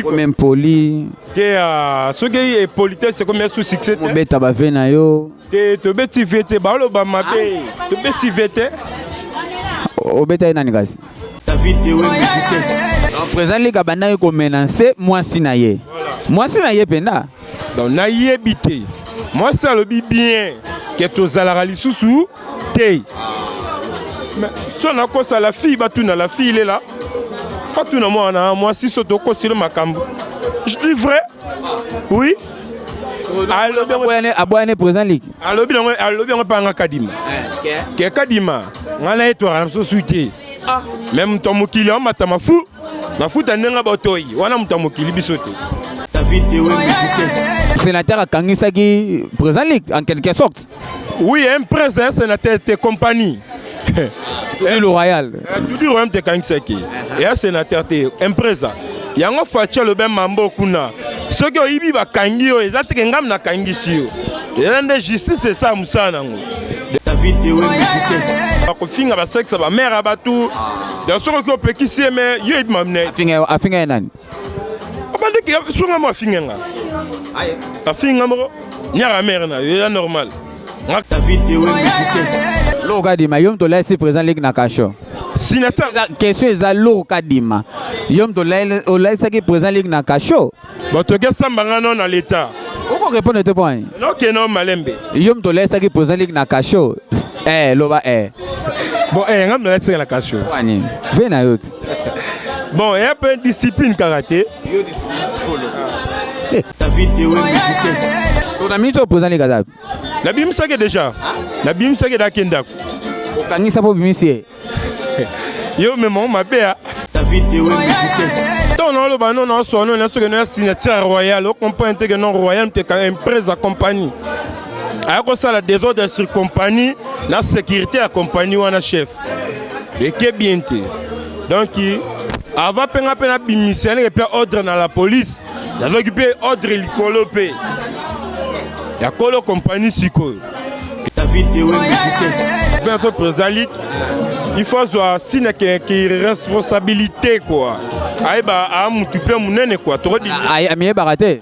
comme impoli te ah, soki e politesse ekomi ya sous succès te obeta ba vie na yo te tobeti vie te baoloba mabe ah. tobeti vie te obeta ye nani kasi présent lika bandaki komenanse mwasi na ye mwasi na ye mpenza donc nayebi te mwasi alobi bien ke tozalaka lisusu te mais so nakosa la fille batuna la fille lela batuna mwana mwasi so tokosilo makambo je dis vrai oui aboyane président liki alobi yango alobi yango mpanga kadima eh, ke kadima ngai na ye twaka na biso sui te ah. me moto ya mokili amata mafu mafuta ndenge botoi wana moto ya mokili biso te sénateur akangisaki président liki en quelque sorte Oui, un prince, un sénateur, tes compagnies. Tudi le royal. Tudi royal te kangisaki. Et un sénateur te, un président. Yango Fatshi le ben mambo kuna. Soki oyibi bakangi yo, eza te ngam na kangisi yo. Eza nde justice esa musala nango. David Ewe Mukitesa. Bakofinga basekisa bamere ya bato. Ya soki oki opekisi ye me yo ebi mamine. Afinga ye nani? abandaki sunga mo afinga nga afinga moko nyaka mere na yo ya normal lourd kadima yo moto olai si présent leki na kasho question eza lourd kadima yo moto olaisaki présent leki na kasho bato okesamba nga no na leta okorepondre te mponi nokeno malembe yo moto olaisaki présent leki na kasho eh, loba eh. bon eh, nga moto olaisaki na kasho ve na yo ti bon eya mpe discipline kaka te na minute oyo mpozani kaza nabimisaki déjà nabimisaki dake ndako okangisa mpo obimisi ye yo mema mabe ya ntango naoloba no naoswa no na soki no ya signature royal okomprendre te ke non royal mpe empresa compagnie aya kosala desordre sur compagnie na sécurité ya compagnie wana chef eke bien te donc avant mpe nga mpe nabimisa ndenge mpe ordre na la police nazwaki mpe ordre likolo mpe ya kolo compagnie sikoyo vingt président il faut azwa sina responsabilité kua ayeba amutu mpe monene kua tokodimiyebaka te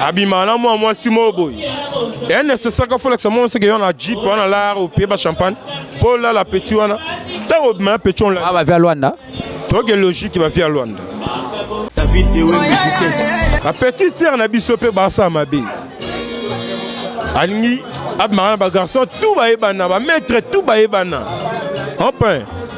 abima na mwa mwasi moko boye e necessaire fo lakisa mwana seke yo na jeep wana lar opie ba champagne mpo olala petit wana ntango obima ya petit onla bavi ya lwanda toke logique bavi ya lwanda ba petit tiere na biso mpe basala mabe alingi abimaka na bagarçon tout bayebana bamaître tout bayebana enfin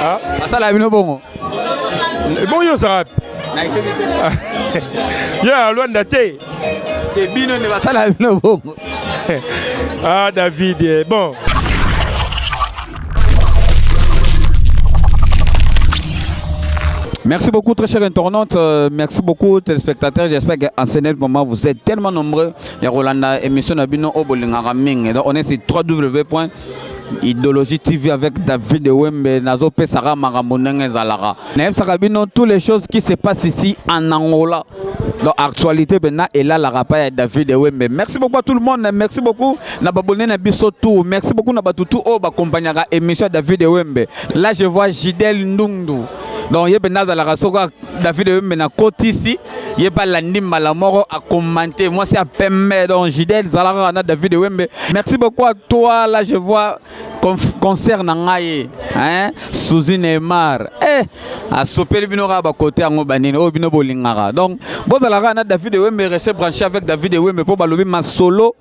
Ah. Asala bino bongo. Bongo yo ça. Ya Luanda te. Te bino ne basala bino bongo. Ah David, eh, bon. Merci beaucoup, très chers internautes. Euh, merci beaucoup, téléspectateurs. J'espère qu'en ce moment, vous êtes tellement nombreux. Il y a Rolanda, émission Nabino Obolingara Ming. Donc, on est sur www. Idologie TV avec David Wembe nazo pesaka makambo ndenge ezalaka nayebisaka bino tous les choses qui se passent ici en Angola donc actualité maintenant elalaka pa ya David Wembe merci beaucoup à tout le monde merci beaucoup na babone na biso tout merci beaucoup na batutu oyo bakompagnaka émission David Wembe là je vois Gidel Ndundu donc ye mpenza azalaka soko david oyombe na kotisi ye mpe alandi mbala moko akomante mwasi ya pembe donc jidel zalaka kaka na david wembe merci beaucoup à toi là je vois concert na ngai hein suzi neymar eh asopeli bino kaka bakote yango banini oyo bino bolingaka donc bozalaka na david wembe reste branché avec david wembe mpo balobi masolo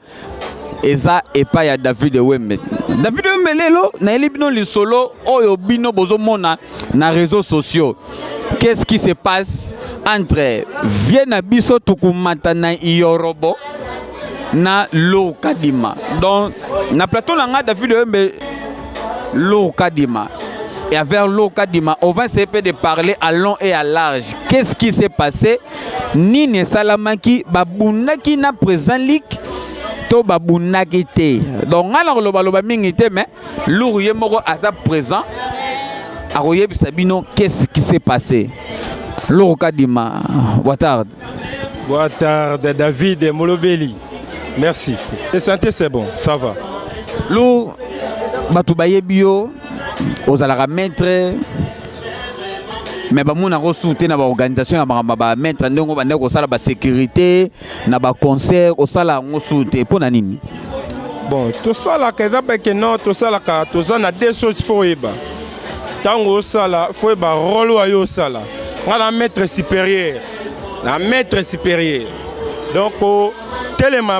eza epai ya david wembe david wembe lelo nayeli bino lisolo oyo bino bozomona na réseaux sociaux qu'est-ce qui se passe entre vie na biso tukumata na yorobo na lou kadima donc na plateau na ngai david wembe lou kadima et avec lou kadima on va essayer de parler à long et à large qu'est-ce qui s'est passé nini esalamaki babundaki na président ligue to babundaki te donc ngai nakolobaloba mingi te mais luru ye moko aza présent akoyebisa bino qu'est-ce qui s'est passé luru kadima watard watard david molobeli merci le santé c'est bon ça va luru bato bayebi yo ozalaka maître me bamonaka osu te na baorganisation ya makambo ba maître ndenge obandaki kosala basécurité na baconcert osala yango su te mpo na nini bon tosalaka eza beke no tosalaka toza na deux choses fo oyeba ntango osala fo oyeba role oyo yo osala ngai na maître supérieur na maître supérieur donc telema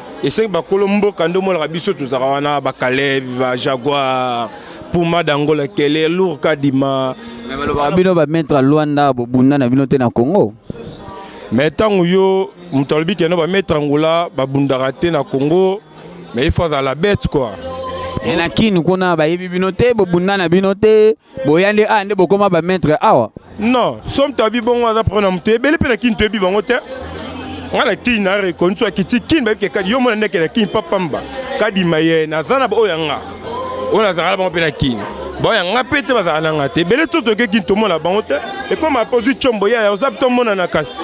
esengi bakolo mboka nde omonaka biso tozalaka wana bakaleb bajaguar puma dangola kele lour kadima balobaka bino bamaître ya lwanda bobunda na bino te na congo me ntango yo moto alobi keno bamaître angola babundaka te na congo me ifo azala bete kua e na kini kuna bayebi bino te bobunda na bino te boya nde aya nde bokoma bamaitre awa non somi toyebi bongo aza problème na moto ebele mpe na kini toyebi bango te ngai na kini na rekoni so akiti kini bayebi ke kadi yo mona ndeke na kini papamba kadima ye naza na baoyo ya nga oyo nazalaka na bango mpe na kini baoyo ya nga mpe te bazala na nga te ebele to toke kini tomona bango te ekoma mpe ozwi combo yaya oza mpe tomonana kasi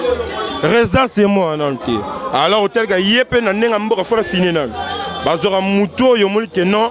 residence ye mwana nano te alors otalika ye mpe na ndenge ya mboka fona fini nano bazwaka motu oyo omoni ke non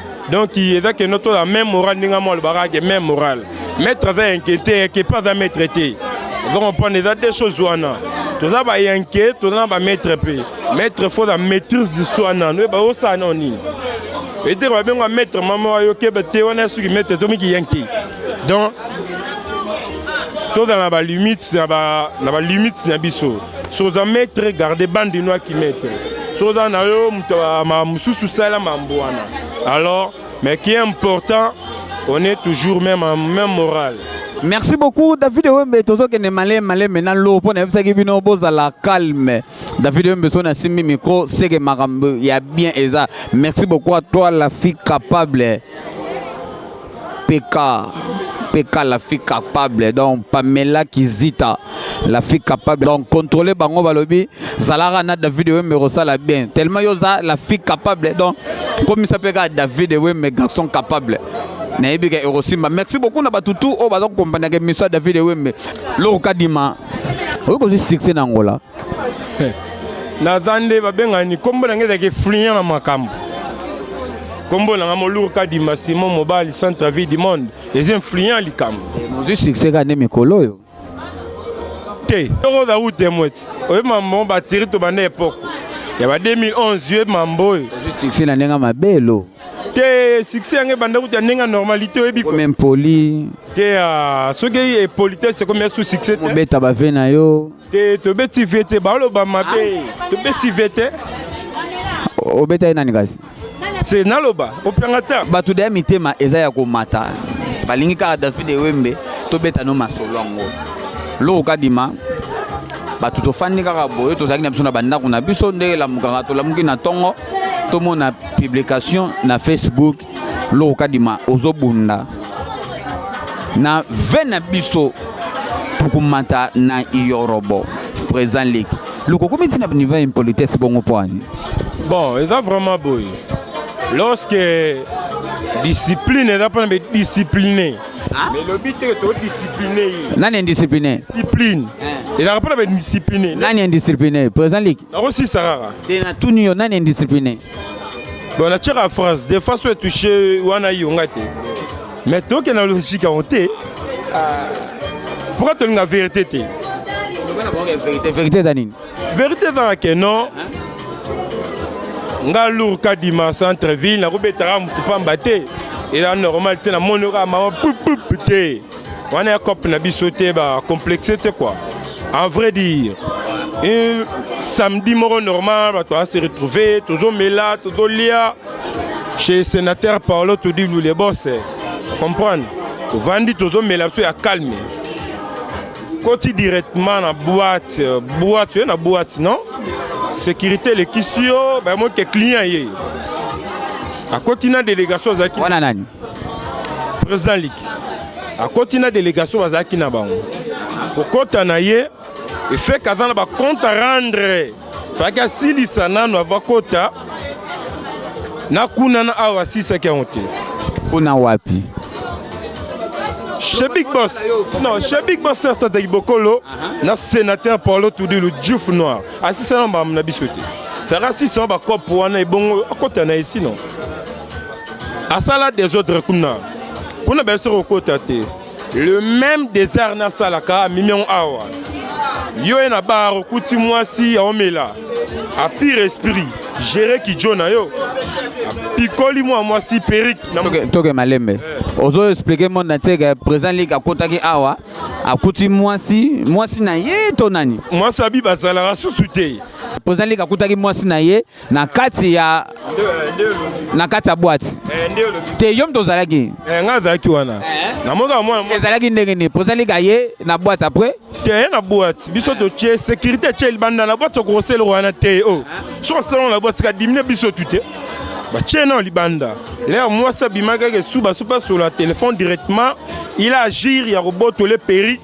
donc eza kendo to la même morale ndenge mwa alobaka ke même morale maître aza inquiété yeke mpe aza maître te ozo comprendre eza deux choses wana toza bayanke toza na bamaître mpe maître fo na maîtrise du soi nano oyeba osala nao nini etere babenga maître mama wayo keba te wana soki maître tomiki yanke donc tozala na balimite na balimite na biso soza maître garde bande no akimete soza na yo moto ma mosusu sala mambo wana alors mais qui est important on est toujours même en même morale merci beaucoup david ewembe tozokende maleme maleme na lo mpo nayebisaki bino bozala calme david ewembe so nasimbi micro seke makambo ya bien eza merci beaucoup à toi la fille capable PK, PK la fille capable, donc Pamela Kizita, la fille capable, donc contrôler bango balobi, Zalara na David Wembe Rosala bien, tellement yoza la fille capable, donc comme ça peut David Wembe garçon capable. nayebi ka ekosimba merci beaucoup na bato tu oyo baza kokompanaka émission ya david ewembe loko kadima oyi kozwi succès na angola naza nde babengani nkombo na ngai ezalaka efluent na makambo nkombo na ngai moluru kadima simon mobali centre vie du monde eza influent likambo ozwi succès kaka nde mikolo oyo te toko oza ute mweti oyebi mambo batiri tobanda epoke ya ba 2011 oyebi mambo oyo ozwi succès na ndenge mabelo te succès yango ebanda kuta ndenge ya normalité oyebi comme impoli te ah, soki epolitesse ekomi ya sous succès te mobeta bave na yo te tobeti vie te baloba mabe ah. tobeti vie te obeta ye nani kasi se naloba opianga ta bato deya mitema eza ya komata balingi kaka david ewembe tobeta no masolo yango loko kadima bato tofandi kaka boye tozalaki na biso na bandako na biso ndenge elamukaka tolamuki na ntongo tomona publication na facebook Loro Kadima ozobunda na ve na biso tokomata na yorobo président leki loko okomi ntina niveau ya impolitesse bongo mpo ani bon eza vraiment boye lorsque discipline eza mpona be discipline elobi te todiscipline ye nani indiscipline discipline ezalaka mpona be discipline nani indiscipline président leki nakosisa kaka te natuni yo nani indiscipline bon natyaka phrase de façon etouche wana yo ngai te mais toke na logique yango te ah. pourquoi tolinga vérité te vérité eza nini vérité ezaka ke non nga lour kadima centre ville nakobetaka motu pamba te eza normal te namoni oka mama pupup te wana ya cop na biso te ba complexe te quoi en vrai dire un samedi moko normal bato ba se retrouver tozomela tozolia chez sénateur paolo todi lule bose comprendre tovandi tozomela biso ya calme koti directement na boîte boîte oye na boîte non sécurité elekisi yo bayemoke client ye akoti na délégation azalaki wana nani Président Liki akoti na délégation bazalaki na bango kokota na ye efeke aza na bacompte à rendre faki asilisa nano avakota na kuna na awa asilisaki yango te kuna wapi chez Big Boss. Non, chez Big Boss Sasta de Bokolo, na sénateur Paulo Tudilu Diouf Noir. Asisa na ba na bisote. Sara sisa ba cop wana ebongo akota na ici non. asala desordre kuna kuna bayebisi kokota te le même desert nasalaka amimi yango awa yo ye na bar okuti mwasi aomela apire esprit gere kijo na yo apikoli mwa mwasi perike toke malembe eh. ozo explike monde na tieke président liki akotaki awa akuti mwasi mwasi na ye to nani mwasi abi bazalaka susu te président liki akutaki mwasi na ye na kati ya na kati ya boite te yo moto ozalaki ngai azalaki wana ezalaki ndenge nini pozali ka ye na boite après te ye na boite biso totie sécurité tie libanda na boite okokosela eloko wana te o oh. soki osalana na boite kadimine biso tu te batie nao libanda lere mwasi abimaki ake suba supa sola telefone directement il agir ya kobotola eperi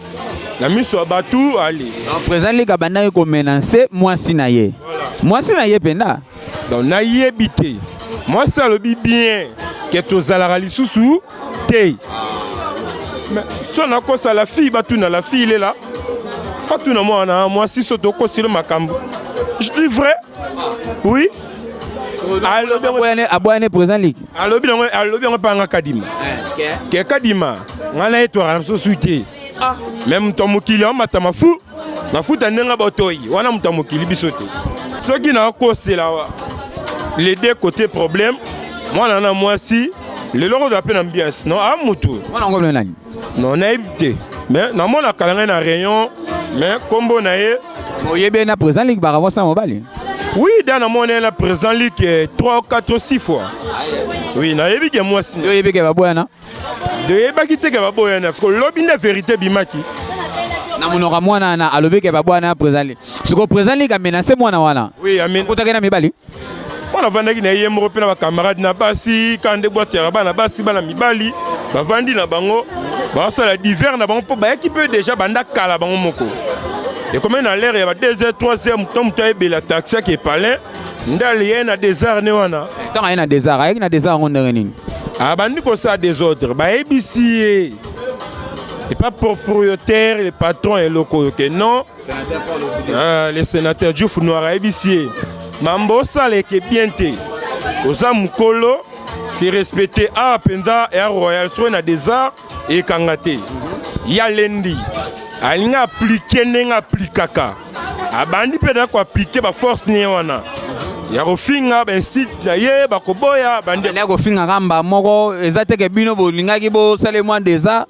na miso ya bato ale président lika abandaki komenanse mwasi na ye mwasi na ye mpenza donc nayebi te mwasi alobi bien ke tozalaka lisusu te so nakosa la fille batuna la fille lela batuna mwana mwasi so tokosilo makambo je dis vrai oui aboya ne président liki alobi yango alobi yango mpanga kadima eh, ke kadima ngai na ye twaka na mosusu te ah. me moto ya mokili amata mafu mafuta ndenge botoi wana moto ya mokili biso te soki nakosela les deux côté problème mwana na mwasi lelo okozala mpe na mbiasi no a ah, motu Non, nayebi te. Mais namona kala ngai na rayon, mais kombo na ye oyebi ye na président ligue bakabwasi na mobali Oui, dans la monnaie, la présent ligue 3, 4, 6 fois. Oui, na yebi ke mwasi. yo oyebi ke baboyana De yebaki te ke baboyana parce que lobi nde vérité bimaki. na monoko ya mwana wana alobi ke baboyana na président ligue sikoyo président ligue amenase mwana wana Oui, amen. okutaki na mibali mwana avandaki na ye moko mpe na bacamarade na basi kaka nde bwatu ya bana basi bana mibali bavandi na bango basala diver na bango mpo bayaki mpe deja banda kala bango moko ekomi na lere ya ba 2 heures 3 heures moto moto ayebela taxi yake palin nde alie na desar ne wana ntango aye na desar ayaki na desar yango ndenge nini abandi ah, kosala desordre bayebisi ye epa propriétaire le patron eloko oyo ke non Ah, le sénateur Diouf Noir ayebisi ye mambo osala eke bien te oza mokolo se respecte awa ah, mpenza ya royal soki na desart ekanga te ya lendi alingi aplike ndenge aplikaka abandi mpe da koaplike baforce nie wana ya kofinga bainsite na ye bakoboya bandi ya kofingaka mba moko eza teke bino bolingaki bosale mwa desart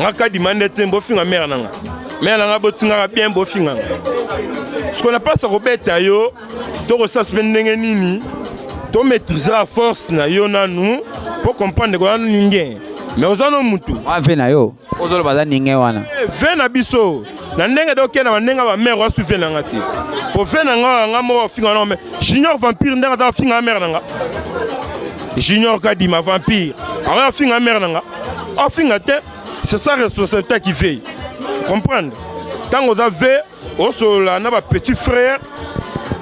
nga kadima nde te bofinga mere na nga mere na nga botingaka bien bofinga nga siko na mpasa kobeta yo tokosala sope ndenge nini tomaîtrisaka force na yo nanu mpo comprendre koya ninge me oza no mutu ave na yo ozolo baza ninge wana eh, ve na biso na ndenge doke na bandenge ba mère wasu ve na nga te po ve na nga nga moko finga na junior vampire ndenge aza finga mère na nga junior kadima vampire awa finga mère na nga afinga te c'est sa responsabilité qui veille comprendre tango oza ve osolola na ba petit frère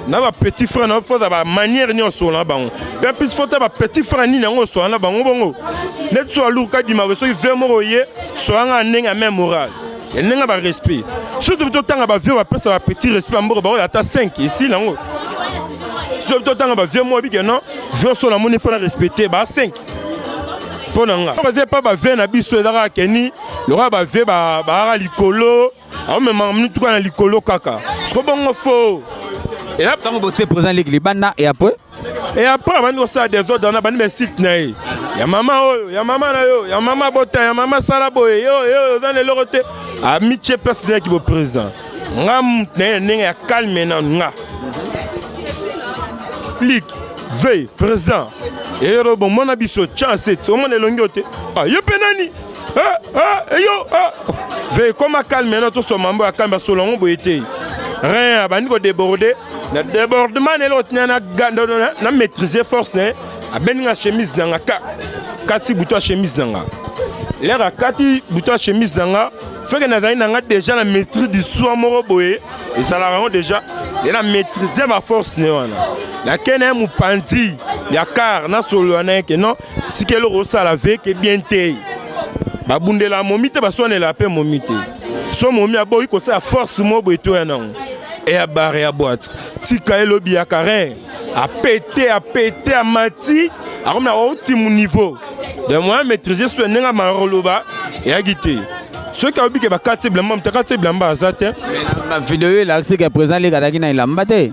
na ba petit frère na fo ba manière nyo osolola na bango pe plus fo ta ba petit frère nini yango osolola na bango bongo neti so aluka dima ko soki vie moko ye sola nga ndenge ya même morale ndenge ba respect surtout totanga ba vieux bapesa ba petit respect ya mboka baoyo ata 5 esili yango surtout totanga ba vieux moko bike non vieux so namoni mpo na respecte ba 5 mpo na nga okoze mpa ba vieux na biso ezaka keni lokola ba vieux baaka likolo amemaka mituka na likolo kaka siko bongo fo ntango botie président ligue libanda et après et après abandi kosala desordre wana abandi bainsulte na ye ya mama oyo ya mama na yo ya mama bota ya mama sala boye yo yo oza na eloko te amitie place nayaki boprésident nga motu na ye na ndenge ya calme na nga ligue vei président eyero bomona biso chance omona elongi yo te ah, yo mpe nani Eh, eh, yo eh. ve ekoma calme na tosoma mbo ya kambi asolo yango boye te rien abandi kodeborde na debordement na eloko tina na maîtrise force ne abendi nga chemise na nga ka kati butu ya chemise na nga lere akati butu ya chemise na nga feke nazali na nga déjà na maîtrise du soi moko boye ezalaka yango déjà ye na maîtrise baforce ne wana nakei na ye mopanzi ya kar nasolola na ye ke non tika eloko osala veke bien te babundela momi te baswanela mpe momi te so momi aboyi kosala force mo boye toya nango eya bare ya boite tika elobi ya karin apete apete amati akomi na otimu niveau de moya maîtrise so ndenge amaloloba eyaki te soki ayobi ke bakati ye bilamba moto akati ye bilamba aza te na video oyo elakisi ke président leka azalaki na elamba te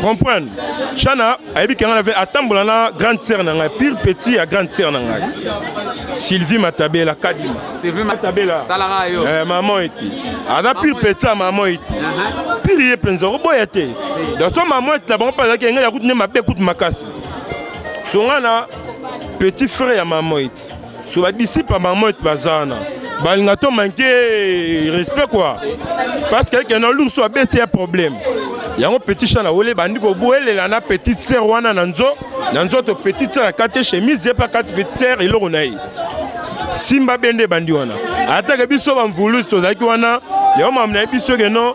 comprendre chana ayebi ke ngai na ve atambola na grande sœur na ngai pire petit ya grande sœur na ngai sylvie matabela kadima sylvie matabela talaka yo eh, maman ete aza pire petit ya maman ete uh-huh. pire ye mpenza okoboya te donc so maman ete na bango mpe azalaki engai ya kutu nde mabe kutu makasi songa na petit frère ya maman ete so ba disciple ba moit bazana balinga to manque respect quoi parce que que na lourso abesi ya problème yango petit chat na wole bandi ko boelela na petite sœur wana na nzo na nzoto petite sœur akati chemise ye pa kati petite sœur eloko na ye simba bende bandi wana atake biso bamvulusi tozalaki wana yango mamna ye biso ke non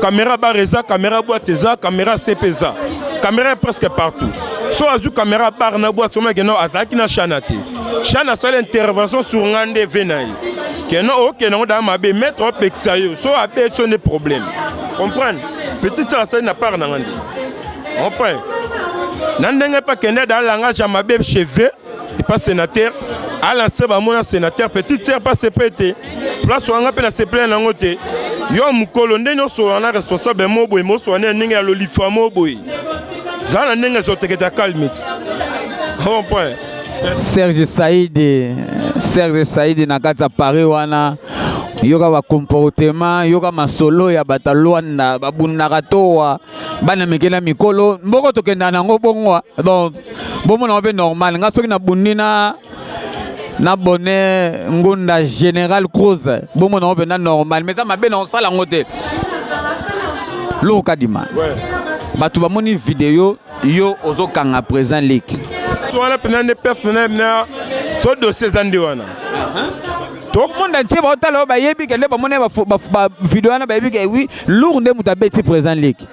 Caméra bar eza, caméra boîte eza, caméra CP eza. Caméra presque partout. So azu caméra bar na boîte soma que non azalaki na chana te. Chana sala intervention sur ngande venai. Que non ok nango da mabe mettre au pekisa yo. So abe so ne problème. Comprendre? Petit ça ça na part na ngande. On prend. Na ndenge pa kende da langage ya mabe cheveux et pas sénateur. Ala se ba mona sénateur petite sœur pas CP te. place wana mpe nasepela nango te yo mokolo ndenge osolola na responsable mo boye mosolola nde na ndenge ya lolifa mo boye zala na ndenge ezoteketa calmit point serge saidi serge saidi na kati ya paris wana yoka bacomportement yoka masolo ya bato ya lwanda babundaka towa bana mike na mikolo mboko tokendaka nango bongo donc bomonaka mpe normal ngai soki nabundi na na bonheur ngunda général cruz bomona yango mpenza normal mais eza mabe na osala yango te loko kadima bato bamoni video yo ozokanga présent leki wana mpenza nde perte mpenza mna to dossier eza nde wana tomonda ntie baotala oyo bayebi kende bamoni bavideo wana bayebi ke wi lour nde moto abeti présent leki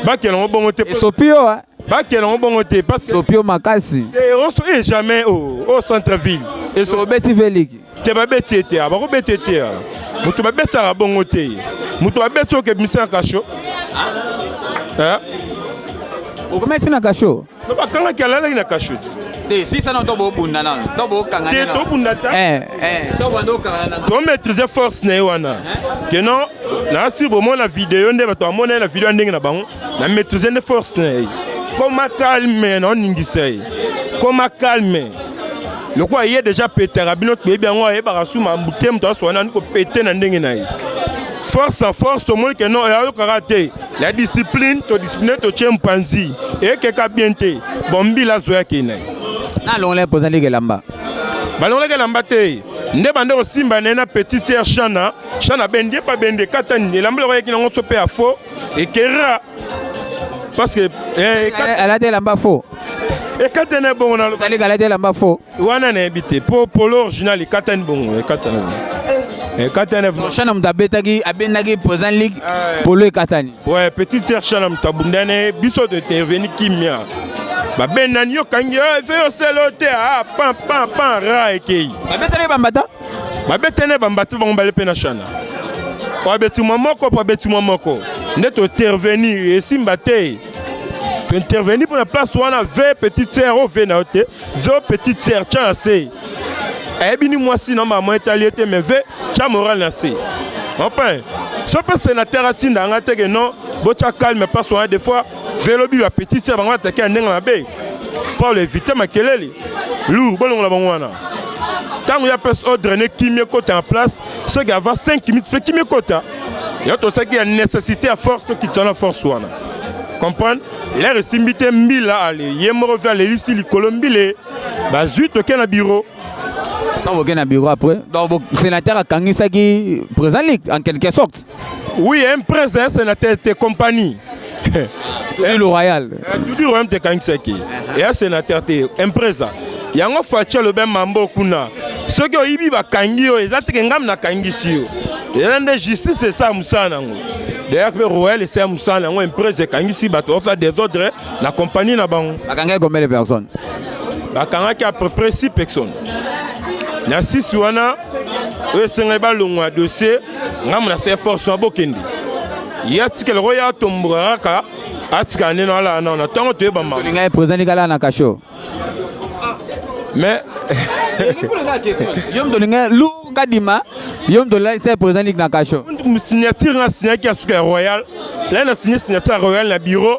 bakela yango bongo te esopi yo bakela yango bongo te parce que sopio makasi eh, on so eh, jamais au oh, au oh, centre ville et so beti veliki te ba beti ete ba ko beti ete mutu ba beti ka bongo te mutu ba beti oke bimisa kasho eh okometi na kasho no ba kanga ki alala na kasho te si ça non to bo bunda na to bo kanga te to bunda ta eh eh to bando kanga na to maîtriser force na wana que non na si bo mona vidéo nde ba to amona na vidéo ndenge na bango na maîtriser nde force na ye koma calme na oningisa ye koma calme lokola ye deja petaka bino toyebi yango ayebaka su mambu te moto aswa nani kopete na ndenge na ye force en force omoni ke non ayokaka te la discipline todiscipline totie mpanzi ekeka bien te bombila azwa yake na ye nalongolaki mpoza ndenge elamba balongolaki elamba te nde bande kosimba na ye na petit ser shana shana bendi epa bendi ekatani elamba eloko yaki nango so mpe ya faux Ekera parce que eh, alati elamba faux ekatana bongo na lobali alati elamba faux wana nayebi te mpo polo original ekatani bongo ekatana ekatana eh, shana moto abetaki abendaki président ligue ah, polo ekatani ouais petite sœur shana moto abundani biso to interveni kimia babendani yo kangi yo yo selo te a ah, pan pan pan ra ekei babetani bambata babetene bambatu bango bale mpe na shana po abeti mwa moko po abeti mwa moko nde tointerveni esimba te tointerveni mpo na place wana ve petite sere o ve na yo te ve o petite sere tya na se ayebi ni mwasi na mama etali ye te me ve tya moral na se enfin so mpe senateur atinda nga teke non botya calme place wana des fois velo bibi apetisi ya bango atake ya ndenge mabe paul evite makelele lou bolongola bango wana ntango ya pese odraine kimi ekota na place soki ava 5 minutes mpe kimi ekota ya tosaki ya nécessité ya force tokitisa wana force wana comprendre lere esimbi te mbila ale ye moko mpe alelisi likolo mbile bazwi toke na biro ntango boke na biro après donc sénateur akangisaki président ligue en quelque sorte Oui, un prince, un sénateur, tes compagnies. Tudi le royal. Eh, Tudi royal te kangisaki. Et un sénateur te, un prince. Yango Fatshi alobi mambo kuna. Soki oyibi bakangi yo, eza teke ngam nakangisi yo. Eza nde justice esa mosala nango. D'ailleurs mpe royal esa mosala yango emprese ekangisi bato baosala desordre na compagnie na bango. Bakangaki combien de personnes? Bakangaki à peu près 6 personnes. Na 6 wana oyo esengeli balongwa dossier ngambo na se force wana bokende ye atikela ko ye atomboka kaka atikala nde nalala nao na ntango toyeba maolinga ye président likala na kasho mais yo moto olinga lu kadima yo moto olalisa ye président liki na kasho signature nga signaki ya suka ya royal lai na signe signature ya royal na bureau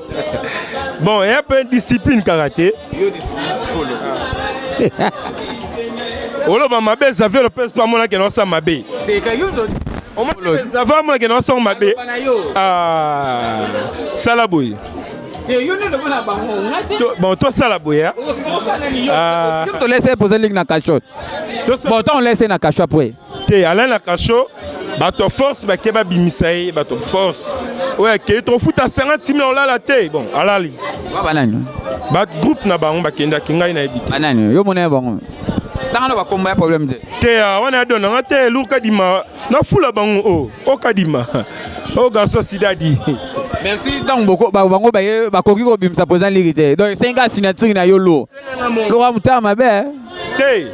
bon eya mpe discipline kaka te oloba mabe zaviolo mpe so amonaki na osa mabe zava amonaki na osongo mabe ah, sala boye bon tosala boye ah. tolese poza liki na cachot bon ntango lese na cachot apres te alain na kasho bato ya force bake babimisa ye bato force oyo akei tokofuta sanga ntimi ya olala te bon alali banani bagroupe na bango bakendaki ngai nayebi te banani yo mona ya bango tangana bakombo ya problème te te ah, wana ya dona nga te elur kadima nafula bango o oh, o oh, kadima o oh, garçon sidadi merci ntango bango bakoki kobimisa mpenza liri te donc esengi kaka signature na yo lour loka motema mabe eh. te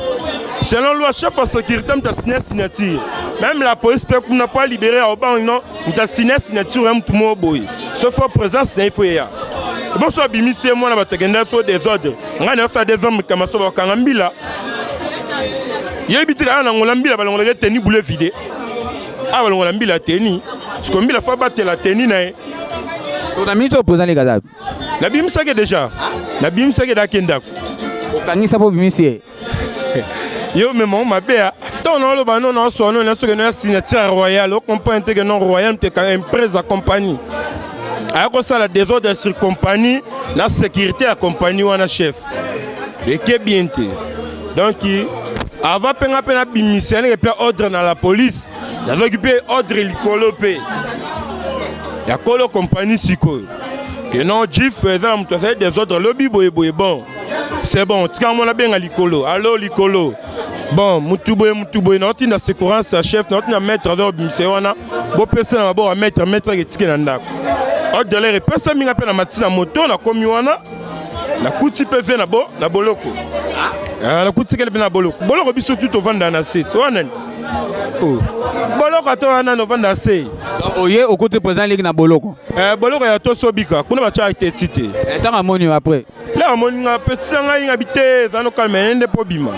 selon loi chef ya sécurité moto asigne signature même la police mpe kuna mpo alibere ya obango no moto asigne signature ya motu moko boye soki fo présence na ye fo eya boso abimisi ye mwana bato akendaki to desordre ngai nayosa ya desordre mikama so bakanga mbila yebi tika aya na ngola mbila balongolaka ye teni boule vide awa balongola mbila teni siko mbila fo abatela teni na ye so na miniti oyo président lekazabi nabimisaki deja nabimisaki daki ndako okangisa mpo obimisi ye yo mema mabe ya ntango naoloba no naoswa no nasoki no ya signature royal okomprane teke no royal mpe emprese ya compagnie aya kosala desordre sur compagnie na sécurité ya compagnie wana chef eke bien te donc avant mpe nga mpe nabimisa ndenge mpe ordre na la police nazwaki mpe ordre likolo mpe ya kolo compagnie sikoyo que non jif eza na moto asali des autres lobi boye boye bon c'est bon tika yango nabenga likolo alo likolo bon motu boye motu boye naotinda secourance ya chef naotinda maître aza obimisa ye wana bopesa na maboko ya maître maître ake etike na ndako odelere epesa minga mpe na mati na moto nakomi wana nakuti mpe ve na boloko ah, nakutikeli mpe na boloko boloko biso tu tovanda na se wana nani oh. boloko ata wana novanda se oye okote présent leki na boloko Eh, boloko ya tosi obika kuna batya eteti te eh, ntango amoni yo après le amoni nga petisa ngai nga bite eza nokalma ye nde mpo obima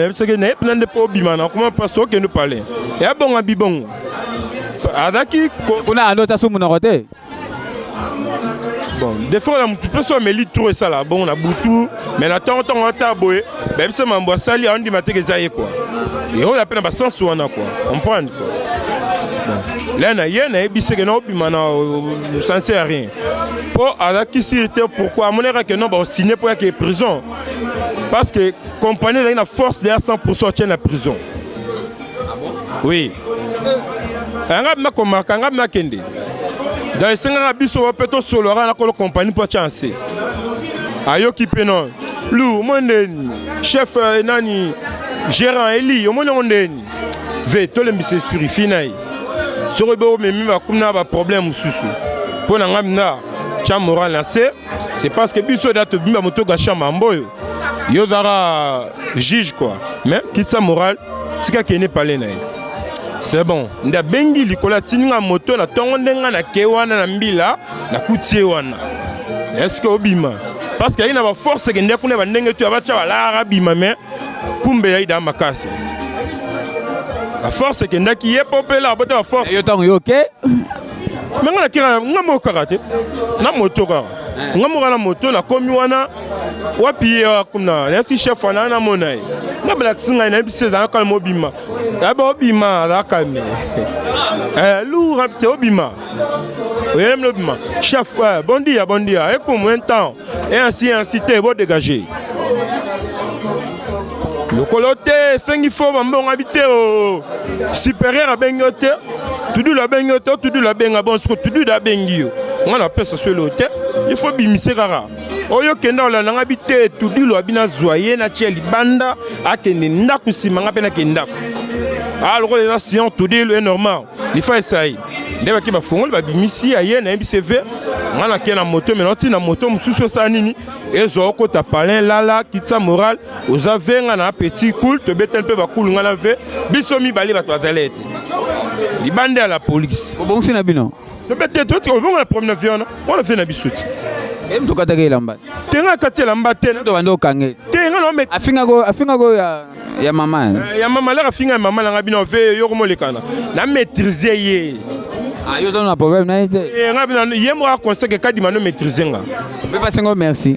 yebisaki naye mpena nde mpo obima na koma mpasi okende pale ya bonga bibongo azalaki kuna ando ta su monoko te bon defo na motu mpe so ameli tro esala bongo na butu mai na ntongo ntongo ata boye bayebisa mambo asali aondima teke eza ye kua eola mpe na basense wana kua comprendre kua le na ye nayebiseke na obima na sense ya rien mpo azalaki siri te pourkui amonaka ke non baosigne mpo yake prison parce que compagnie ezalaki na force deya 100 pourcent atye na prison oui eh, nga bima komaka nga bima kende donc esengaka biso mpe tosolaka na kolo kompani mpo atya nse ayoki mpe non lu omoni ndeni chef eh, nani gérant eli omoni yango ndeni ve tolembisa esprit fi na ye soki oyebi omemi bakumi na baproblème mosusu mpo na nga mina tya moral na se c'est parce que biso da tobimba moto gasha mambo oyo yo ozaka juge quoi mais kitisa moral tika kende pale na ye c'est bon nde abengi likolo atindi nga moto na ntongo nde nga nake wana na mbila nakuti ye wana eske obima parce que ayi na baforce ekende kuna bandenge to ya batya balara abima mais kumbe yayi daa makasi baforce ekendaki ye mpo mpe elaka bota baforce yo ntango yo oke me nga nakira nga moko kaka te na moto kaka eh. nga moko na moto nakomi wana wapi ye awa kuna nayasi chef wana namona ye nga balakisi ngai nayebisi ezala kalme obima yaba obima azala kalme eh, loura te obima oyelemi lobima chef eh, bon dia bon dia ekomu un temps et ainsi et ainsi te bo dégage lokolo te esengi fo bambonga bi te o supérieur abengi yo te tudulu abengi yo te tudulu abenga bon siko tudulu abengi yo nga napesa swelo te il faut bimise kaka oyo kenda olanda nga bite tudilo abi nazwa ye natya libanda akende ndako nsima nga mpe nake ndako a ah, lokola eza sion tudilo e normal lifa esai nde bake bafongoli babimisi ya ye nayebi cv nga nake na moto me naotina moto mosusu osala nini ezwa okota palin lala kitisa moral oza ve nga na petit cool tobetani mpe bakulu nga na ve biso mibale bato bazali ete libanda ya la polise obongisi na bino tobete toti obongo na problème na vie wana wana vie na biso ti em tokataka elamba te nga kati elamba te tobanda okange te nga na omeka afingako afingako ya ya mama eh, ya mama laka afinga ya mama na nga bino ve yoko molekana na maîtriser ye ah, yo ozana na problème na ye te eh, nga bino ye moko akonseke kadima no maîtriser nga mpe pasengo merci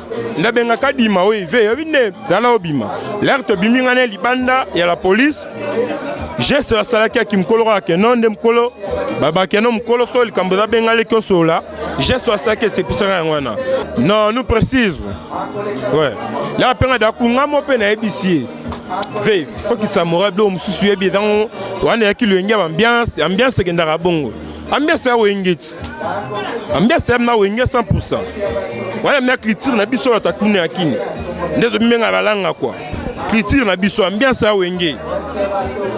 nabengaka dima oyo ive yobi nde zala obima lere tobimi ngai na libanda ya la polise geste basalaki ya kimokolo kaka keno nde mokolo babakeno mokolo so likambo eza benga leki osola geste basalaki esepisaka yango wana non nous précise ouais lere mpe ngai dakunga mo mpe nayebisi ye ve faut kitisa moral biloko mosusu yebi ezango wana eyaki loyenge ya ambiance ambiance ekendaka bongo ambiance ya wenge ti ambiance yam na wenge 100 wana mia culture na biso bato atuna ya kini nde tomibenga balanga kua culture na biso ambiance ya wenge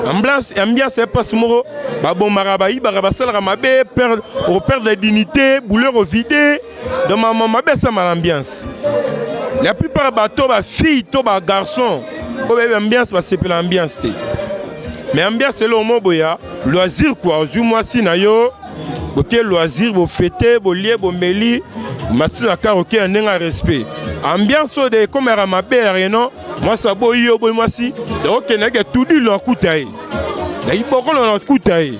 ambiance ya mpasi moko babomaka bayibaka basalaka mabe operdre dignité bouleur ovide donc mama mabe asama na ambiance la plupart bato bafille to bagarçon oyo bayebi ambiance basepela ambiance te mais ambiance eloo mo boya loisir kua ozwi mwasi na yo boke loisir bofete bolie bomeli matisela kar oke ya ndenge ya respect ambiance oyo de ekomaka mabe ya reno mwasi aboyi yo oboyi mwasi okendeke tudilo akuta ye na ibokolo na okuta ye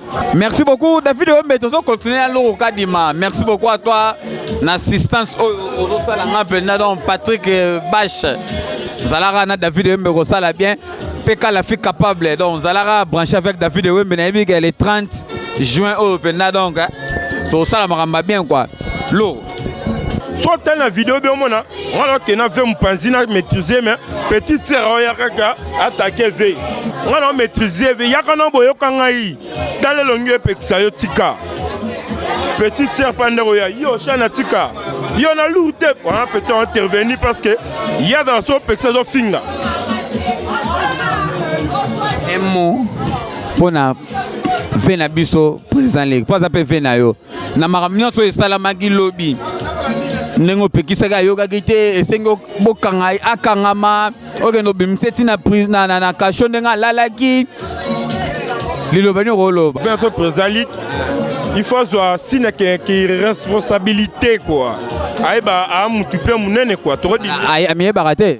Merci beaucoup David Wembe tozo continuer à Loro Kadima. Merci beaucoup à toi na assistance oyo ozosala nga mpenza donc Patrick euh, Bash zalaka na David Wembe kosala bien Peka la fille capable donc zalaka branché avec David Wembe nayebi ke le 30 juin oyo mpenza donc hein. tosala makambo bien quoi Loro so otali na video bi omona wana okenda ve mopanzi na maîtrise me petite sere oyo yakaka atake ve nga na omaîtrise ve yaka na boyoka ngai tala elongi epekisa yo tika petite sere mpa ndeko ya yo shana tika yo na lour te wana petit interveni parce que ye azala so opekisa ezofinga emo mpo na ve na biso président leki mpo aza mpe ve na yo na makambo nyonso oyo esalamaki lobi ndenge opekisaki ayokaki te esengi bokanga akangama okende obimisa eti na kasho ndenge alalaki liloba nini okoloba vincent président il faut azwa sina ki responsabilité quoi ayeba a mutu mpe monene quoi tokodimiyebaka te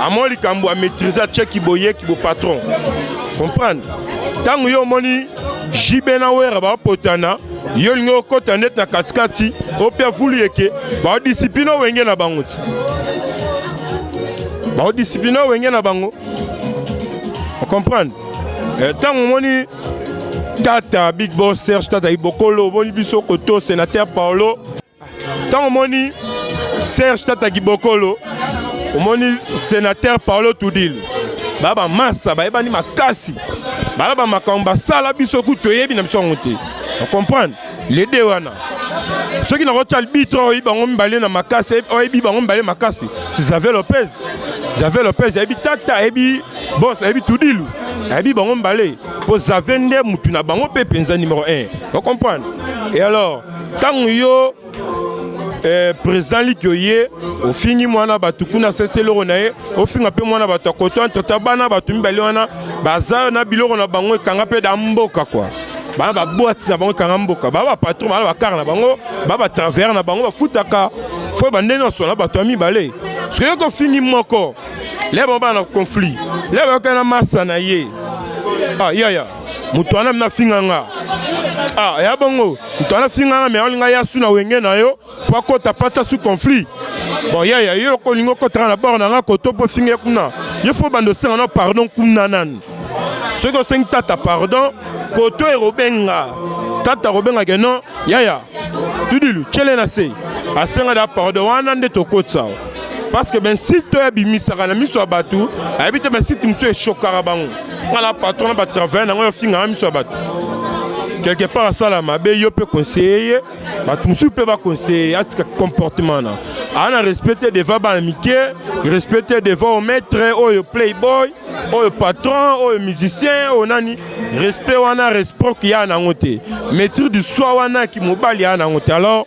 amo likambo a maîtrise cheki boyeki bo patron comprendre ntango yo omoni jb na wera bapotana yo olingi okota ndeti na katikati ope afulu yeke baodisipline owenge na bango ti baodisipline owenge na bango ocomprendre ntango eh, omoni tata big boss serge tata ibokolo omoni biso koto senateur paolo Tant moni Serge Tata Gibokolo, omoni sénateur Paolo Tudil. Ba ba massa ba ebani makasi. Ba ba makambo basala biso ku toyebi na biso yango te. On comprend? Les deux wana. soki nakotya arbitre oyo oyebi bango mibale na makasi oyebi bango mibale makasi si javel lopez javel lopez ayebi tata ayebi bos ayebi tudilu ayebi bango mibale mpo zave nde motu na bango mpe mpenza numero 1 ocomprendre e alors ntango yo eh, président liki oye ofingi mwana bato kuna sese eloko na ye ofinga mpe mwana bato ya koto entre ta bana bato mibale wana baza na biloko na bango ekanga mpe da mboka kwa bana babwatisa bango ekanga mboka baa bapatron baa bakar na bango baa batravers na bango bafutaka fo bande nyonso na bato ya mibale soki okofingi moko leba bana conflit leba yokana masa na ye ah, yaya moto wana mina finga nga ah ya bongo moto wana finga nga me aolinga ya su na wenge na yo po akota pacha su conflit bon yaya yo loko olingi okotaka na bor na nga koto mpo finga ye kuna yo fo banda osenga na pardon kuna nani soki osengi tata pardon koto ekobenga tata akobengaka no yaya tudilu tyele na se asenga da pardon wana nde tokotisa parce que bensite oyo abimisaka na miso ya bato ayebi te bensite mosusu eshokaka bango nga na patron na batravaille na ngai ofingaka miso ya bato quelque part asala mabe yo mpe conseille ye bato mosusu mpe baconseille ye atika comportement na aa na respecte devant bana mike respecte devant omaître oyo playboy oyo patron oyo musicien oyo nani respect wana reciproque ya nango te maîtrise du soi wana kimobali ya nango te alors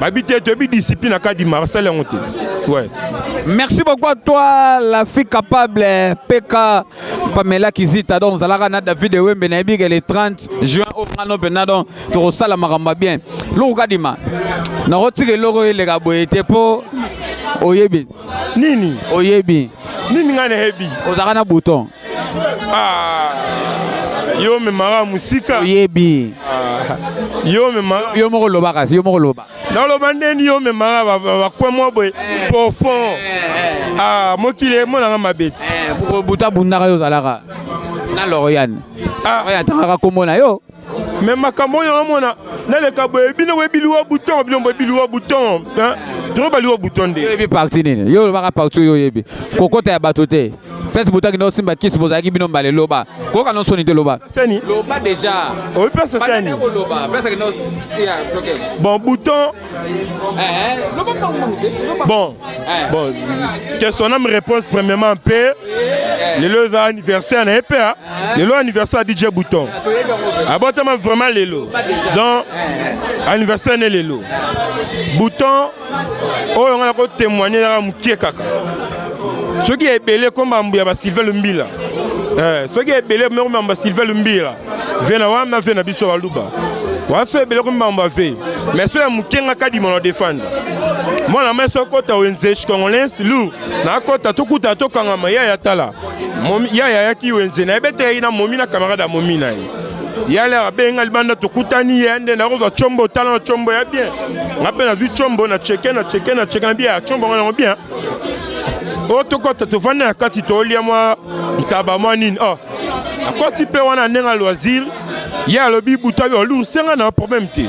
babi te toyebi discipline na kadi marsal yango te ouais. merci beaucoup à toi la fille capable peka pamela kizita donc ozalaka na david ewembe nayebi ke le 30 juin oyo nga no mpenza donc tokosala makambo ya bien longo kadima nakotika eloko eleka boye te mpo oyebi Nini? Oyebi. Nini ngai nayebi? Ozalaka na bouton. Ah. Yo memaka musika. Oyebi. Ah. Yo memaka. Yo moko lobaka, yo moko loba. Naloba ndeni yo memaka bakwe mwa boye eh. profond. Eh, eh. Ah, mokili emonaka mabeti. Buta bundaka yo ozalaka. Na Loriane. Ah. Oyo atangaka kombo na yo. me makambo oyo omona naleka boye bino boye biliwa bouton bino boye biliwa bouton toro baliwa bouton nde oyebi parti nini yo olobaka parti oyo oyebi kokota ya bato te pese botaki nde osimba kisi bozalaki bino mbala eloba koyoka no soni te loba loba deja oyebi pese sani bon bouton Bon, eh. bon, que son âme réponse premièrement en paix. lelo eza anniversaire na ye mpe ah. eh. lelo anniversaire ya dj bouton abotama ah, vraiment lelo donc eh. anniversaire ne lelo bouton oyo nga na kotémoigne ezaka mokie kaka soki ya ebele komba mbu ya basilve lumbila soki ya ebele komba mbu ya basilve lumbila vie na wana vie na biso baluba wana so ebele komi mambo ave mais so ya moke nga kadima na defendre mwana mai so kota wenze congolais lu nakota tokuta tokangama yaya tala yaya ayaki wenze nayebeteyaki na momi na camarade ya momi na ye yale abenga libanda tokutani ye nde nakozwa combo tala na combo ya bien nga mpe nazwi combo na cheke na cheke na cheke na bien ya combo nga nango bien oyo tokɔta tofandi na kati tolia mwa ntaba mwa nini o akɔti mpe wana ndenge ya loisir ye alobi buta yo olungise ngai na problème te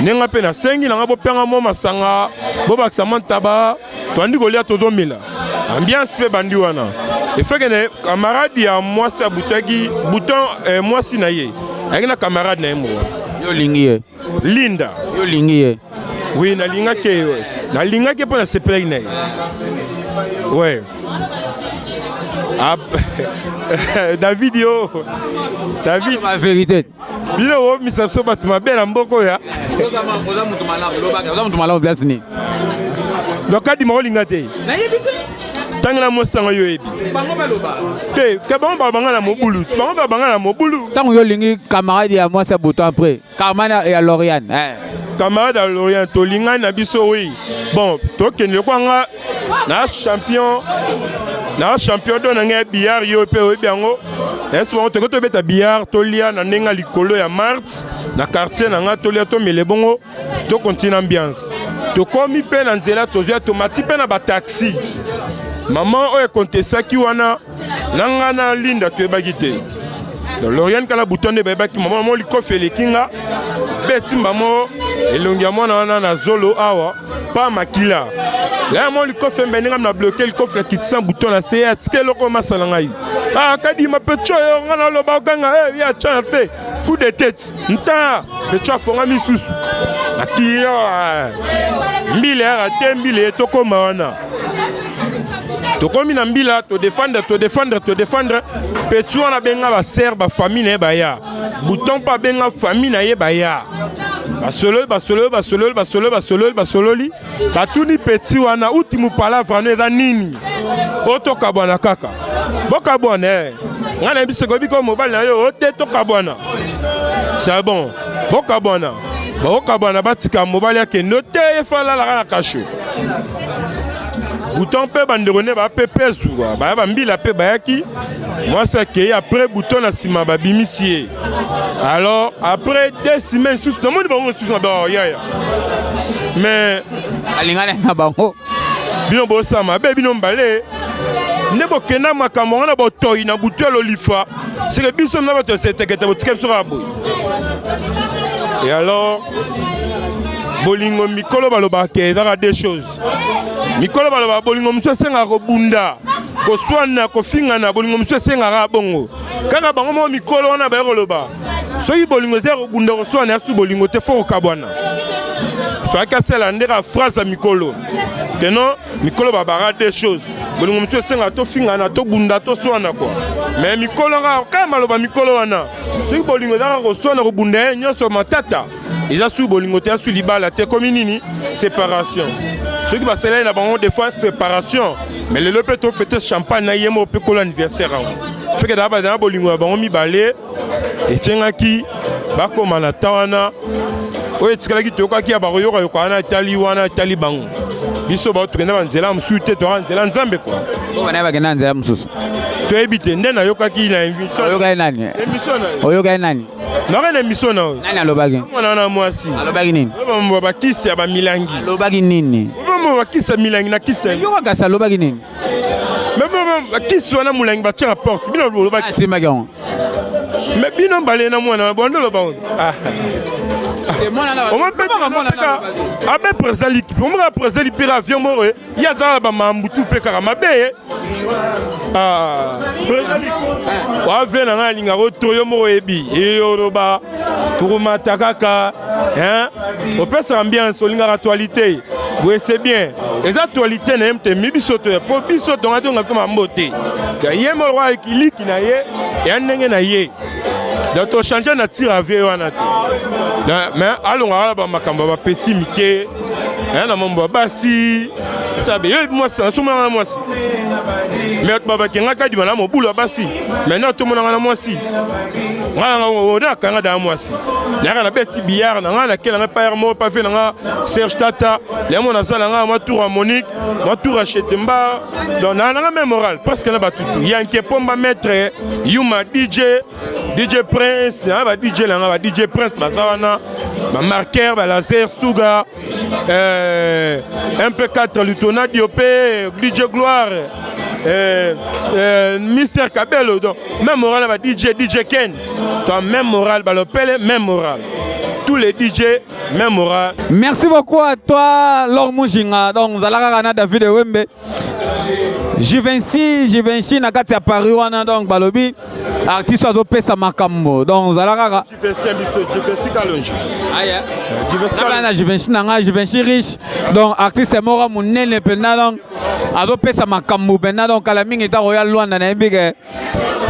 ndenge ngai mpe nasengi na ngai bopyanga mwa masanga bobakisa mwa ntaba toandi kolia tozomela ambiance mpe bandi wana efeke na camarade ya mwasi abutaki buton eh, mwasi na ye ayaki na camarade na ye moko yo olingi ye linda yo olingi ye Oui, nalingaki ye. Nalingaki mpo nasepelaki na ye. Ouais. Ah, David yo. David ma vérité. Bino wo misa so bato mabe na mboko ya. Oza moto malamu, lobaka, oza moto malamu place nini? Donc kadi ma olinga te. Nayebi te. ntango na mosango yo oyebi te ke bango babanga na mobulu bango babanga na mobulu ntango yo olingi camarade ya mwasi ya butu apres Carmen ya Loriane. Eh. Camarade ya Loriane, tolingani na biso oui. Bon, tokende lokola nga na champion na champion do na ngai billard yo mpe oyebi yango esi bango tokoki tobeta billard tolia na ndenge likolo ya mars na quartier na ngai tolia tomele bongo tokontinue ambiance tokomi mpe na nzela tozwi tomati mpe na bataxi mama oyo ekontesaki wana na nga na linda toyebaki te loriane kala buto nde bayebaki mama mo likofi eleki nga beti mbamo elongi ya mwana wana na zolo awa pa makila laya mo likofi embe ndenge na bloke likofi na kitisa buto na se ya tika eloko masa na ngai akadima ah, pecho yo nga naloba oganga eh, ya cha na te coup de tete nta pecho afonga misusu akiyo ah, mbila ya te mbila ye tokoma wana tokomi na mbila todefendre todefendre todefendre petit wana abenga basere bafamille na ye baya buton mpe abenga famille na ye baya basololi basololi basololi basololi basololi basololi batuni petit wana uti mopalavre ano eza nini oyo tokabwana kaka bokabwana e eh. ngai nayebi soki oyebi ko mobali na yo ote tokabwana c'est bon bokabwana bakokabwana batika mobali akende ote efalalaka na kasho buton mpe bandeko nde baya mpe pesu baya bambila mpe bayaki mwasi akei apres buton na nsima babimisi ye alors apres deux semaine susu namoni bango mosusu na bao yaya mais alingana na bango bino bosala mabe bino mbale nde bokenda makambo wana botoi na butu ya lolifa seke biso na bato ya setekete botika biso kaka boye e alors bolingo mikolo balobaka ke ezaka deux choses mikolo balobaka bolingo mosusu esengaka kobunda koswana kofingana bolingo mosusu esengaka bongo kaka bango moko mikolo wana baye koloba soki bolingo eza ya kobunda koswana ya su bolingo te fo kokabwana faki asala nde ka phrase ya mikolo keno mikolo babaka de choses bolingo mosusu esenga tofingana tobunda toswana kua me mikolo nga kaka maloba mikolo wana soki bolingo ezaka koswana kobunda ye nyonso matata eza sui bolingo te asui libala te ekomi nini séparation soki basaleli na bango des fois séparation mais lelo mpe tofete champagne na ye moko mpe kolo anniversaire yango feke na bolingo ya bango mibale esengaki bakoma na ta wana oyo etikalaki toyokaki ya bakoyoka yoka wana etali wana etali bango biso bato tokenda banzela mosusu te toyaka nzela nzambe kua bana bakenda na nzela mosusu toyebi te nde nayokaki na emissionoyokaki nani oyokaki nani naka na emisio na oyo nani alobaki mwana wana mwasi alobaki nini bakisi ya bamilangi alobaki nini bakisi ya milangi na kisi yo makasi alobaki nini bakisi wana molangi batya na porte bino bolobaki esemaki yango me bino mbale na mwana bondo loba abe président likipe omaka président lipera avion moko ye azala na bamambutu mpe kaka mabe ye président avion na ngai alingaka otoyo moko oyebi eyoloba tokomata kaka hein opesa ambiance olingaka actualité boye c'est bien eza actualité na ye mte mi biso toya mpo biso tonga tonga mpe mambo te ye molwa ekiliki na ye ya ndenge na ye donc tochange na tire avie wana te mais alongaka na bamakambo ya bapesi mike na mambo ya basi sabe yo mwasi nasumanaka na mwasi me bato babaki ngai kadima na mobulu ya basi maintenant tomonanga na mwasi ngai nanga oh, nakanga da mwasi nayaka na beti billard na ngai nakela ngai payar moko pafe na ngai serge tata lemo nazala ngai mwa tour ya monique mwa tour ya chetemba donc naa nanga me moral presque na batutu yanke pomba maître yuma dj dj prince na ba dj na ngai ba dj prince baza wana bamarqueur balaser suga eh, MP4 Lutona Diopé, DJ Gloire, eh, eh, Mister Cabello, donc même moral va DJ, DJ Ken, toi même moral, bah, le pelle, même moral. Tous les DJ, même moral. Merci beaucoup à toi, Lord Mujinga. Donc, Zalaka Rana David et Wembe. Juvenci, Juvenci, Nakati à Paris, donc, Balobi, artiste, Azo Pesa Makambo. Donc, Zalaka Vincent biso Juventus Kalonji. Aya. Euh, Juventus Kalonji. Na Juventus na nga Juventus riche. Donc artiste moko munene penda donc azopesa makambo penda donc kala mingi ta royal Luanda na yebi ke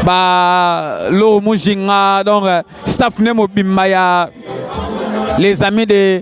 ba lo mujinga donc euh, staff ne mobimba ya les amis de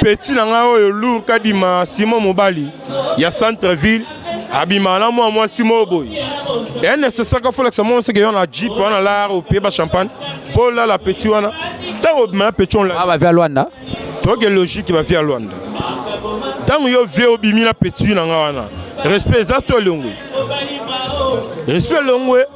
petit na ngai oyo lour kadima simon mobali ya centre ville abima na mwa mwasi moko boye ya necessaire folakisa mwa moseke yo na jeep wana lar opie ba champagne mpo olala petit wana ntango obima na petit onla ah, bavia ya lwanda toke logique bavia ya lwanda ntango yo vie obimi na petit na ngai wana respect eza to elongwe respect elongwe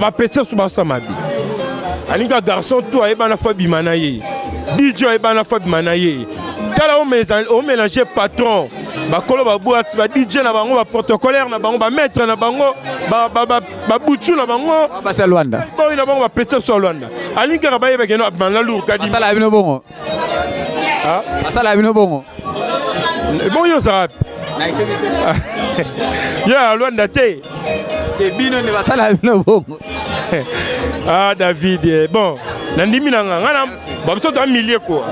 bapesa so basa mabe alinga garçon to ayebana fo abima na ye dj ayebana fo abima na ye tala omelange patron bakolo babwati ba dj na bango baprotocolaire na bango bamaître na bango babutu na bango basalwanda oyo na bango bapesa biso ya lwanda alingi kaka bayebakeno abima na lourkadi Ah. Asala bino bongo. Bon yo ça. Ya Luanda te. Te bino ne basala bino bongo. Ah David, eh, bon, nandimi na nga ngana ba biso to milieu quoi.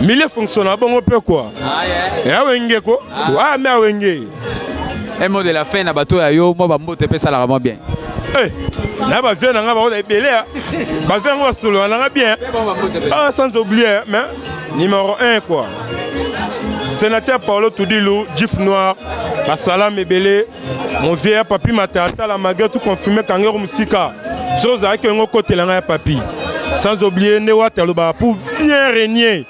Milieu fonctionne bongo pe quoi. Ah yeah. Ya wenge ko. Ah mais wenge. un mot de la fin na bato ya yo mwa bambote mpe esalaka mwa bien eh, na bavieux na ngai baoza ebele bavieux yango basolola na ngai bien ah, sans oublier mais numéro 1 quoi sénateur paolo tudilu jif noir basalami ebele mon vieux ya papi matatala malgré tout confirme kangero mosika soki ozalaki yango okotela ngai ya papi sans oublier nde wata alobaka pour bien régner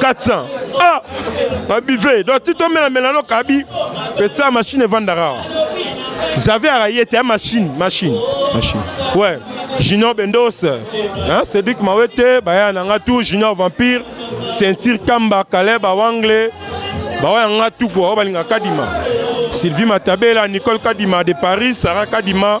400 ah babive donc ti tomelamela no kabi pesa machine evandaka awa zave araye te ya machine machine machine ouais junior bendos hein, cédric mawete baya na nga tu junior vampire ceinture kamba kaleb awangle bawaya nga tu kua oyo balingaka kadima sylvie matabela nicole kadima de paris sara kadima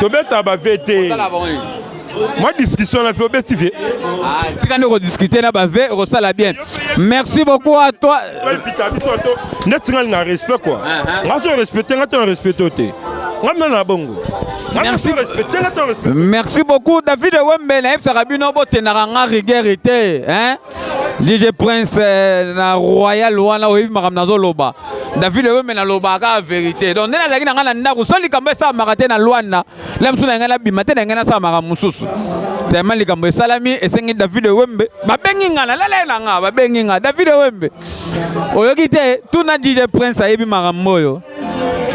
tobeta ba vt mwa discussion na vie obeti vie ah, tika nde kodiscute na ba vie okosala bien merci beaucoup à toi pita biso to ndeti ngai na respect kua ah, ah. nga so respecte nga to na respecte o te nga mina na bongo Merci. Merci beaucoup David Wembe na yebisaka bino botenaka nga rigueur te hein DJ Prince eh, na Royal wana oyebi makambo nazoloba David oyo mena loba ka verite donc nene azalaki na ngai na ndako so likambo esalamaka te na Luanda na mosusu na ngai nabima te na ngai nasalamaka mosusu tellement likambo esalami esengi David Wembe babengi ngai nalala ye na ngai babengi ngai David Wembe oyoki te tuna DJ Prince ayebi makambo oyo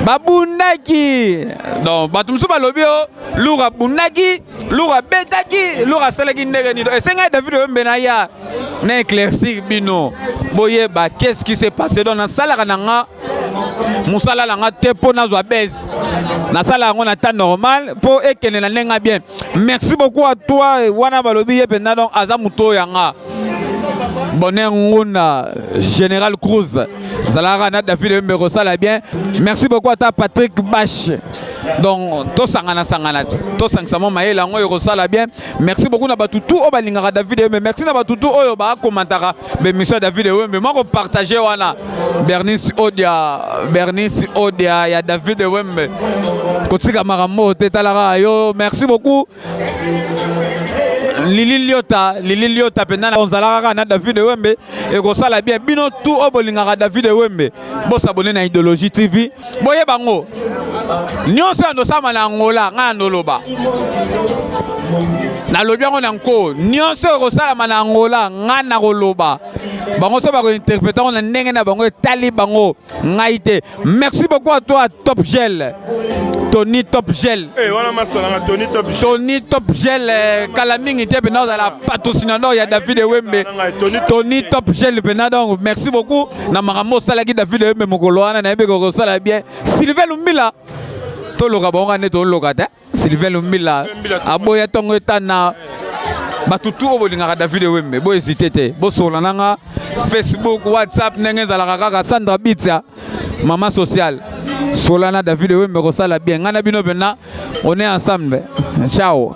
babundaki donc bato mosusu balobi o oh, lura abundaki lura abetaki lura asalaki ndenge nino esengaki david oyombe na ya na éclaircir bino boyeba qu'est-ce qui s'est passé donc nasalaka na nga mosala na nga te mpo nazwa base nasala yango na temps normal mpo ekende na ndenge bien merci beaucoup à toi wana balobi ye mpenza donc aza moto oyo yanga bonheur ngunda général cruz zalaka na david embe kosala bien merci beaucoup ata patrick bash donc tosangana sangana tosangisa mwa mayele yango ekosala bien merci beaucoup na bato tout oyo balingaka david ewembe merci na bato tout oyo bakomantaka bemission ya david ewembe mwa kopartage wana bernice odia bernice odia ya david ewembe kotika makambo te talaka yo merci beaucoup lili liota lili liota mpenza na ozalaka kaka na david ewembe ekosala bien bino tu oyo bolingaka david ewembe bosabone na idéologie tv boye bango nyonso ya ndosama na angola ngai na ndoloba nalobi yango na nko nyonso oyo ekosalama na angola ngai nakoloba bango so bakointerprete yango na ndenge na bango etali bango ngai te merci beaucoup à toi top gel tony top gel eh, wana masalanga tony top gel tony top gel eh, kala mingi te mpena ozala patrocinador ya david ewembe tony top gel mpena donc merci beaucoup na makambo osalaki david ewembe mokolo wana nayebi kokosala bien sylvain lumbila toloka bango nde toloka te Sylvain Lumbila aboya tongo etana bato tu oyo bolingaka david ewembe bohésite te bosola na nga facebook whatsapp ndenge ezalaka kaka sandra bitsa mama sociale sola na david ewembe kosala bien ngai na bino mpenza on est ensemble ciao